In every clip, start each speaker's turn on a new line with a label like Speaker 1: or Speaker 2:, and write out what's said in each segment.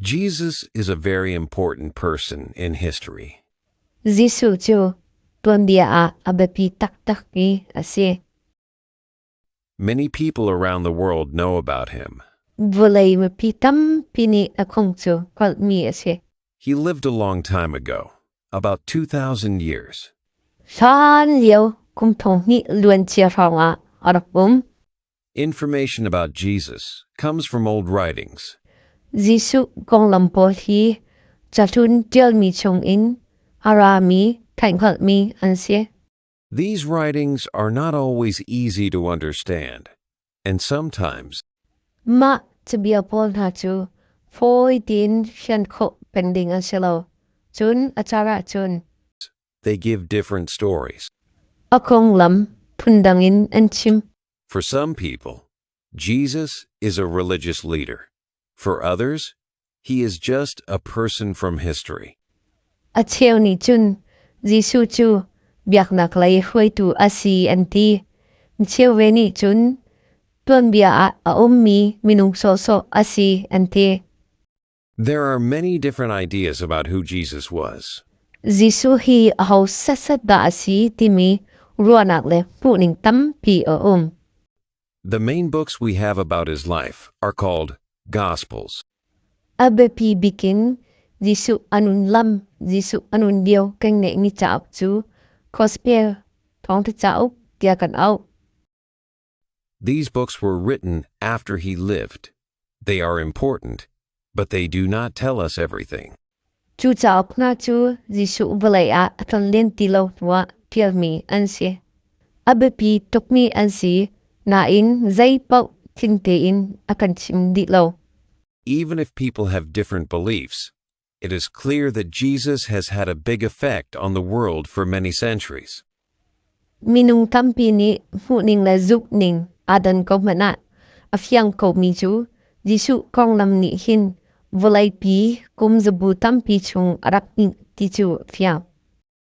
Speaker 1: Jesus is a very important person in history. Jesuh
Speaker 2: cu tuanbia ah a biapi taktak i a si.
Speaker 1: Many people around the world know about him. Vawlei mipi
Speaker 2: tampi nih a kong cu kalmi a si. He lived a long
Speaker 1: time ago, about 2,000 years. Hlan
Speaker 2: lio kum thong hnih luancia hrawng ah a rak um. Information
Speaker 1: about Jesus comes from old writings. Jesuh
Speaker 2: konglam pawl hi cahlun ṭialmi chungin a rami, thaihhngalhmi an si. These
Speaker 1: writings are not always easy to understand, and sometimes Mah
Speaker 2: cabia pawl hna cu fawi tein hrian khawh peng ding an si lo. Cun a car ahcun They give
Speaker 1: different stories. A konglam
Speaker 2: phundang in an chim. For some
Speaker 1: people, Jesus is a religious leader. For others, he is just a person from history. A cheu
Speaker 2: nih cun Jesuh cu biaknak lei hruaitu a si an ti. Micheu ve nih cun tuanbia ah a ummi minung sawhsawh a si an ti. There
Speaker 1: are many different ideas about who Jesus was. Jesuh hi
Speaker 2: aho sasat dah a si timi ruahnak le hmuhning tampi a um. The
Speaker 1: main books we have about his life are called Gospels. A
Speaker 2: biapi bikin Jesuh anun lam Jesuh anun dio kan ngeih mi cauk cu Gospel thawng te cauk tia kan au.
Speaker 1: These books were written after he lived. They are important, but they do not tell us everything. Cu cauk
Speaker 2: hna cu Jesuh vawlei ah a tlon len ti lo hnuah ṭialmi an si. A biapi tukmi an si, nain zeipaoh tling tein a kan chim dih lo. Even if
Speaker 1: people have different beliefs, it is clear that Jesus has had a big effect on the world for many centuries.
Speaker 2: Minung tampi nih hmuhning le zukning adan ko hmanh ah a fiang ko mi cu Jesuh konglam nih hin vawleipi kum zabu tampi chung a rak nih ti cu fiang.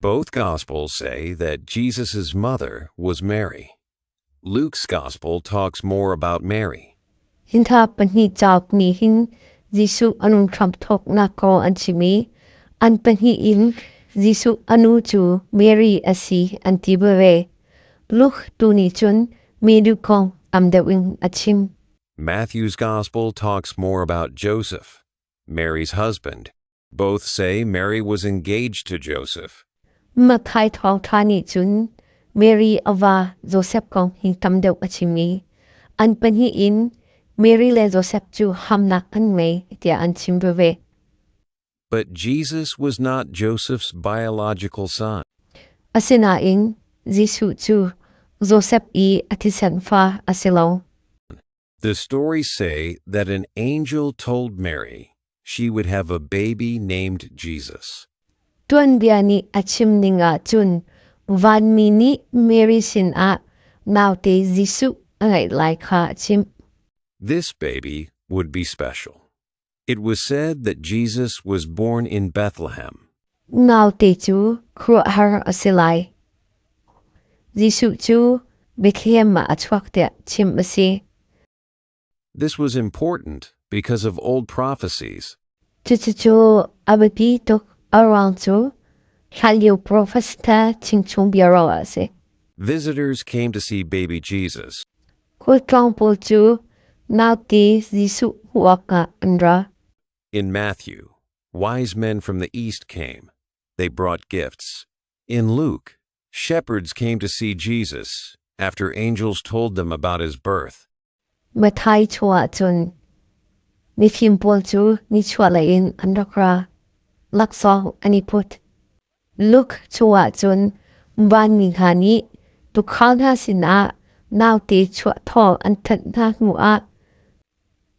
Speaker 1: Both Gospels say that Jesus' mother was Mary. Luke's Gospel talks more about Mary. Hin kha
Speaker 2: pahnih cauk nih hin Jesuh a nu Trump thawknak ko an chim i an pahnih in Jesuh a nu cu Mary a si an ti ve. Luke tu nih cun mi duk kong am deuh in a chim. Matthew's
Speaker 1: Gospel talks more about Joseph, Mary's husband, Both say Mary was engaged to Joseph. Mathai
Speaker 2: thawng ṭha nih cun Mary a va Joseph kong hi tam deuh a chim i an pahnih in Mary le Joseph cu hamnak an ngei tiah an chim veve. But
Speaker 1: Jesus was not Joseph's biological son. Asinain
Speaker 2: Jesuh cu Joseph i a thisen fa a si lo. The
Speaker 1: stories say that an angel told Mary she would have a baby named Jesus. Tuanbia
Speaker 2: nih a chim ning ah cun vanmi nih Mary sin ah naute Jesuh a ngeih lai kha a chimh. This
Speaker 1: baby would be special. It was said that Jesus was born in Bethlehem. Naute
Speaker 2: cu khuahar a si lai. Jesuh cu Bethlehem ah a chuak tiah chim a si.
Speaker 1: This was important because of old prophecies. Cucucu
Speaker 2: a biapi tuk around cu hlanlio prophets ta chingchung bia ro a si. Visitors
Speaker 1: came to see baby Jesus. Khualtlawng
Speaker 2: pawl cu nauti Jesuh hmuhawk ah an ra. In Matthew,
Speaker 1: wise men from the east came. They brought gifts. In Luke, shepherds came to see Jesus after angels told them about his birth. Mathai
Speaker 2: chuah cun mifim pawl cu nichuahlei in an rak ra. Laksawng an i put. Luke chungah cun vanmi hna nih tuukhal hna sinah naute chuah thawng an thanh hna hnuah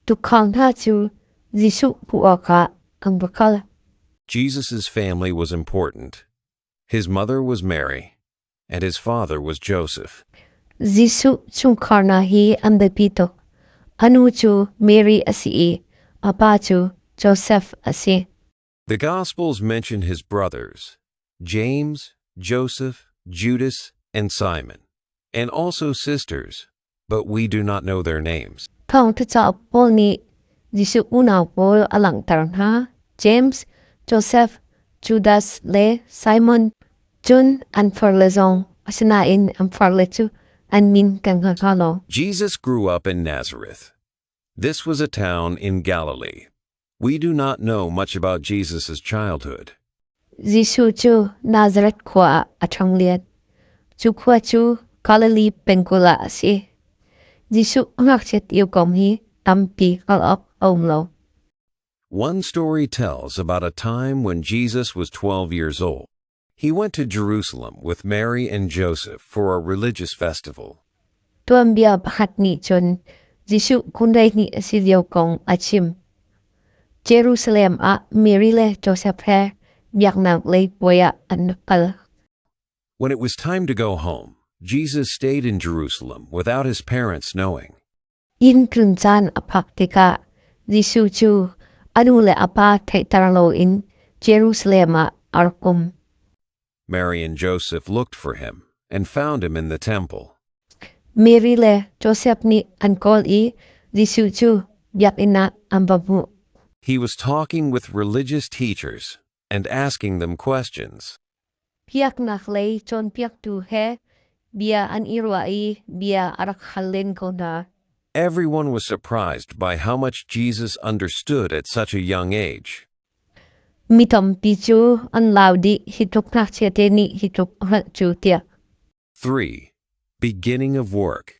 Speaker 2: tuukhal hna cu Jesuh hmuh awkah an va kal. Jesus'
Speaker 1: family was important. His mother was Mary, and his father was Joseph.
Speaker 2: Jesuh chungkhar hna hi an biapi tuk. A nu cu Mary a si i a pa cu Josef a si. The Gospels
Speaker 1: mention his brothers, James, Joseph, Judas, and Simon, and also sisters, but we do not know their names. Thawngtha cauk
Speaker 2: pawl nih Jesuh unau pawl a langhter hna. James, Joseph, Judas le Simon cun an farle zong asinain an farle cu an min kan hngal hna lo. Jesus grew up
Speaker 1: in Nazareth, This was a town in Galilee. We do not know much about Jesus' childhood. Jesuh
Speaker 2: cu Nazareth khua ah a ṭhang liat. Cu khua cu Galilee pengkulh ah a si. Jesuh ngakchiat iu kom hi tampi hngalh awk a um lo.
Speaker 1: One story tells about a time when Jesus was 12 years old. He went to Jerusalem with Mary and Joseph for a religious festival. Tuanbia
Speaker 2: pakhat nih cun Jesuh kunrei hnih a si lio kong a chim. Jerusalem ah Mary le Joseph he biaknak lei puai ah an kal. When
Speaker 1: it was time to go home, Jesus stayed in Jerusalem without his parents knowing. Inn tlun
Speaker 2: caan a phak tikah Jesuh cu a nu le a pa theihter loin Jerusalem ah ar kum. Mary
Speaker 1: and Joseph looked for him and found him in the temple. Mary
Speaker 2: le Joseph nih an kawl i Jesuh cu biakinn ah an va hmuh. He was
Speaker 1: talking with religious teachers and asking them questions. Piaknak
Speaker 2: lei cawnpiaktu he bia an i ruah i bia a rak hal len ko hna. Everyone was
Speaker 1: surprised by how much Jesus understood at such a young age. Mi
Speaker 2: tampi cu an lau dih hi tluk ngakchia te nih hi tluk hralh cu tiah. 3.
Speaker 1: Beginning of work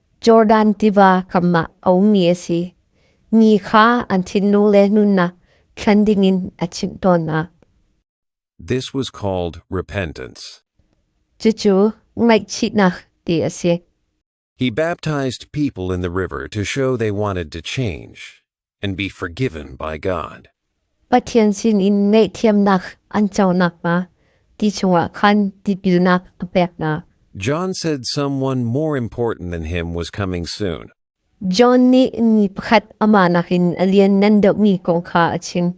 Speaker 2: Jordan tiva kamah a ummi a si. Ni kha an thinlung le nunnak thlan dingin a chimh tawn hna.
Speaker 1: This was called repentance. Cucu
Speaker 2: ngaihchihnak ti a si. He
Speaker 1: baptized people in the river to show they wanted to change. and be forgiven by God. Pathian
Speaker 2: sinin ngaihthiamnak an co nakhnga ti chungah khan tipilnak a pek hna. John said
Speaker 1: someone more important than him was coming soon. John nih
Speaker 2: ni pakhat amah nakin a lian nan deuhmi kong kha a chim.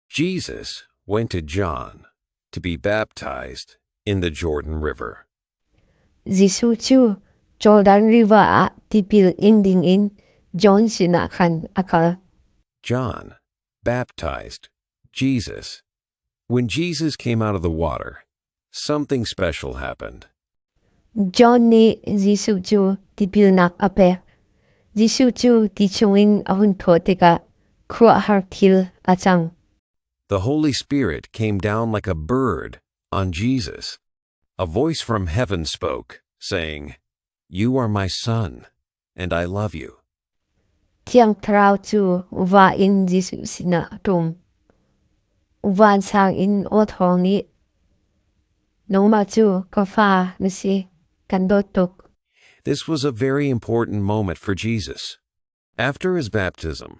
Speaker 2: Jesus
Speaker 1: went to John to be baptized in the Jordan River. Jesuh
Speaker 2: cu Jordan River ah tipil in dingin John sinah khan a kal. John
Speaker 1: baptized Jesus. When Jesus came out of the water, Something special happened. John
Speaker 2: nih Jesuh cu tipilnak a pek. Jesuh cu ti chungin a hun thawh tikah khuahar thil a cang. The Holy
Speaker 1: Spirit came down like a bird on Jesus. A voice from heaven spoke, saying, You are my son. and I love you. Thiang
Speaker 2: Thlarau cu va in Jesuh sinah ṭum. Vansang in aw thawng nih, Nangmah cu ka fa na si, kan dawt tuk. This
Speaker 1: was a very important moment for Jesus. After his baptism,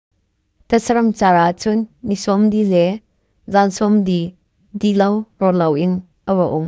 Speaker 1: Tatsaram
Speaker 2: car ah cun ni sawm di le zan sawm di ti lo rawl loin a va um.